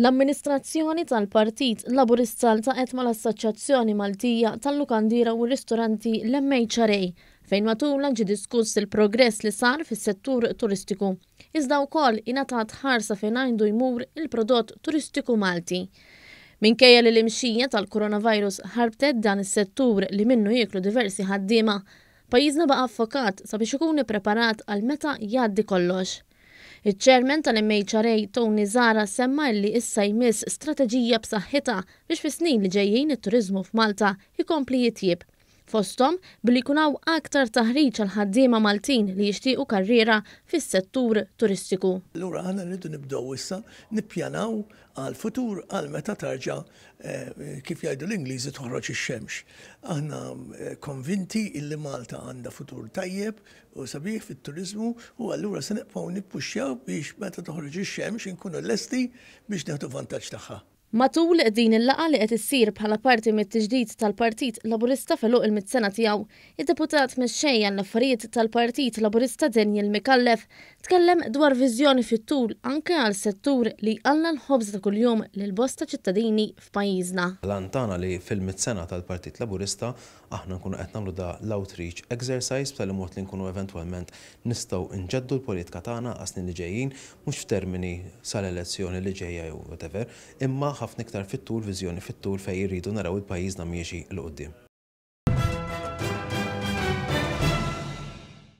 L-amministrazzjoni tal-Partit Laburista ltaqgħet mal-Assoċjazzjoni Maltija tal-Lukandiera u r-Ristoranti l-MHRA fejn matulha ġie diskuss il-progress li sar fis-settur turistiku iżda wkoll ingħatat ħarsa fejn għindu jmur il-prodott turistiku Malti. Minkejja li l-imxija tal-Coronavirus ħarbtet dan is-settur li minnu jieklu diversi ħaddiema, Pajjiżna baqa' ffokat sabiex ikun ippreparat għal meta jgħaddi kollox. Iċ-Chairman tal-MHRA Tony Zahra semma illi issa jmiss strateġija b'saħħitha biex fis-snin li ġejjin it-turiżmu f'Malta jkompli jitjieb, fosthom billi jkun hawn aktar taħriġ għall-ħaddiema Maltin li jixtiequ karriera fis-settur turistiku. Allura aħna rridu nibdew issa nippjanaw għall-futur għal meta tarġa', kif jgħidu l-Ingliżi, toħroġ ix-xemx. Aħna konvinti illi Malta għandha futur tajjeb u sabiħ fit-turiżmu u allura se nibqgħu nippuxxjaw biex meta toħroġ ix-xemx inkunu lesti biex nieħdu vantaġġ tagħha. Matul din il-laqgħa li qed issir bħala parti mit-tiġdid tal-Partit Laburista f'għeluq il-mitt sena tiegħu, id-Deputat Mexxej għall-Affarijiet tal-Partit Laburista Daniel Micallef Tkellem dwar viżjoni fit-tul anke għal settur li jqalla' l-ħobż ta' kuljum lil bosta ċittadini f'pajjiżna. L-għan tagħna li fil-Mitt Sena tal-Partit Laburista aħna nkunu qed nagħmlu da l-outreach exercise b'tali mod li nkunu eventwalment nistgħu nġeddu l-politika tagħna għas-snin li ġejjin, mhux f'termini sal-elezzjoni li ġejja jew whatever, imma ħafna iktar fit-tul, viżjoni fit-tul fejn irridu naraw il-pajjiżna miexi 'l quddiem.